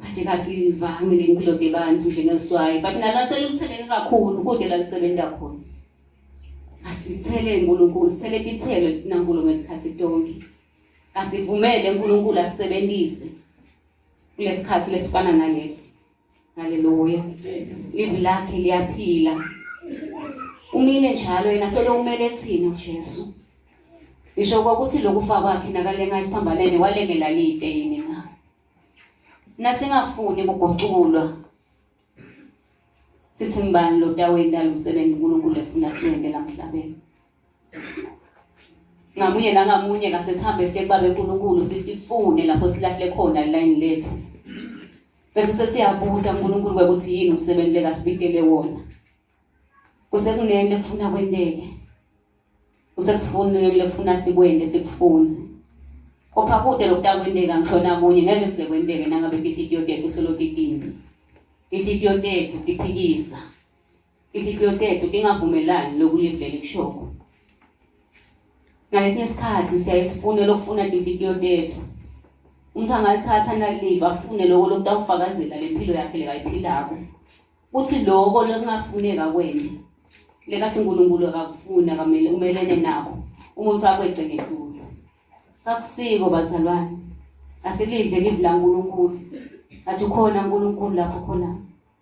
Kade kasivangi le mpilo debantu njengeswayi but nala selutheleke kakhulu kude la lisebenza khona. Asithele uNkulunkulu, sithele ithelo linankulu ngekhathi tonke. Asivumele uNkulunkulu asisebenzise kulesikhathi lesifana nalesi. Haleluya. Livi lakhe liyaphila. Umile njalo yena solo kumele thina uJesu. Ngisho kwakuthi lokufa kwakhe nakalenga isiphambanene walengela lite yini na. Nasingafuni ukuguculwa. Sithi ngibani lo tawe indalo umsebenzi uNkulunkulu efuna siwende la mhlabeni. ngamunye nangamunye kase sihambe siye kubabe uNkulunkulu sifune lapho silahle khona ilayini lethu bese sesiyabuta uNkulunkulu ukuthi yini umsebenzi lekasibikele wona kusekunento ekufuna kwenteke kusekufuna lekufuna sikwende sikufunze kopha kude lokutakwenteka ngishona kunye ngeke kusekwenteke nangabe inhliziyo yethu solokidimbi inhliziyo yethu iphikisa Ihlihliyotethu ingavumelani lokulivhu leli kushoko. Ngalesinye isikhathi siyaye sifune lokufuna inhliziyo tethu. Umuntu angalithatha naliva afune loko lokutawufakazela lempilo yakhe lekayiphilako. Uthi loko lokungafuneka kwena lekathi uNkulunkulu akakufuni akamele umelene nako umuntu akweqe ngetulo. Kakusiko bazalwane. Asilidle livi laNkulunkulu. Athi ukhona uNkulunkulu lapho khona.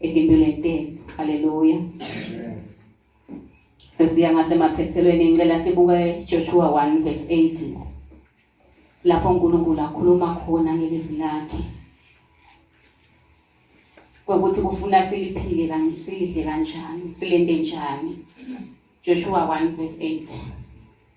Ekimpilweni Haleluya. Sesiya ngasemaphethelweni ngicela sibuke Joshua 1 verse 18. Lapho uNkulunkulu akhuluma khona ngelivi lakhe. Kokuthi kufuna siliphile kanjani, silidle kanjani, silende njani. Joshua 1 verse 8.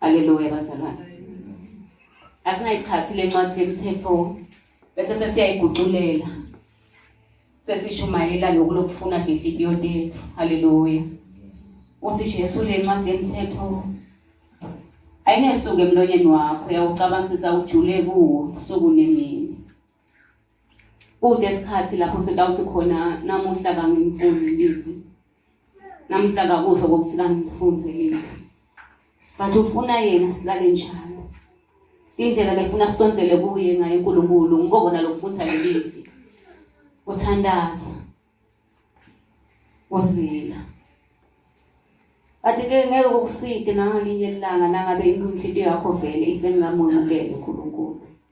Haleluya bazalwane. Asingayithathi lencwadi yemthetho bese sesiyayiguculela. Sesishumayela lokhu lokufuna ngenhliziyo yethu. Haleluya. Uthi Jesu lencwadi yemthetho ayingesuke emlonyeni wakho yawucabangisisa ujule kuwo usuku nemini. Kude isikhathi lapho sitawuthi khona namuhla kangimfundi livi. Namuhla kakusho ukuthi kangifunze livi. But ufuna yena silale njalo. Indlela befuna sisondzele kuye ngayo uNkulunkulu ngikobona lokufunza lelivi. Uthandaza. Uzila. Bathi-ke ngeke kukuside nangalinye ilanga nangabe inhliziyo yakho vele isengingamwemukele uNkulunkulu.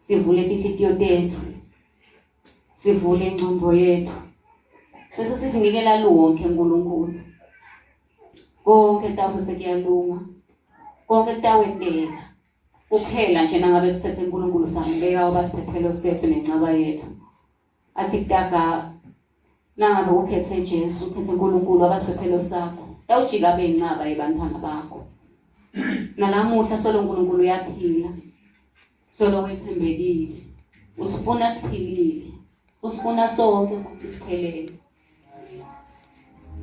sivule tinhlitiyo tetfu sivule incombo yethu bese sikunikela lonke nkulunkulu konke kutawuse sekuyalunga konke kutawenteka kuphela nje nangabe sithethe unkulunkulu sambeka wabasiphephelo sethu nencaba yethu athi kutaka nangabe ukhethe Jesu ukhethe uNkulunkulu abasiphephelo sakho yawujika abe incaba yebantwana bakho nalamuhla solo uNkulunkulu uyaphila solo wethembekile usifuna siphilile usifuna sonke ukuthi siphelele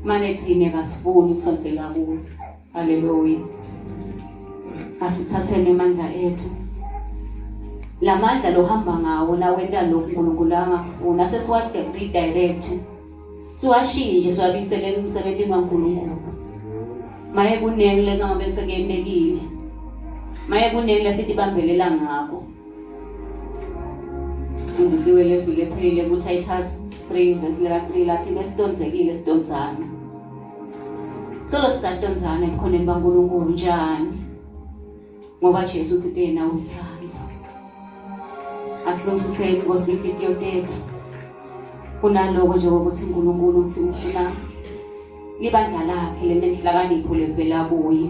mane thina kasifuni ukusonsela kuwe haleluya asithathele amandla ethu la mandla lohamba ngawo nawenta lokhu unkulunkulu angakufuni asesiwaredirect siwashintshe siwabiselele emsebenzini wankulunkulu maye kuningi lekungabe sekuyemekile maye kuningi lesithi bambelela ngako sindisiwe le vile ephelile kutitles 3 vesi lika-3 lathi besitonzekile sitonzana solo sisatonzana ebukhoneni bankulunkulu njani ngoba jesu uthi tena uyithanda asilungisiseni inkosi inhlikiyo tethu kunaloko nje kokuthi unkulunkulu uthi ufuna libandla lakhe lenenhlakanipho levela kuye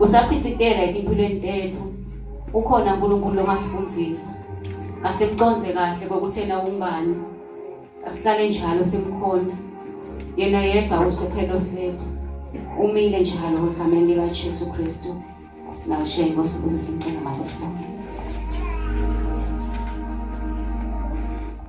Usaphithikela impilweni tethu. Ukhona uNkulunkulu ongasifundisa. Asimconze kahle kokuthi yena ungani. Asihlale njalo simkhonda. Yena yedwa usikhokhelo sethu. Umile njalo egameni likaJesu Kristu. Nawe shenge Nkosi ukuze simcela makusibonge.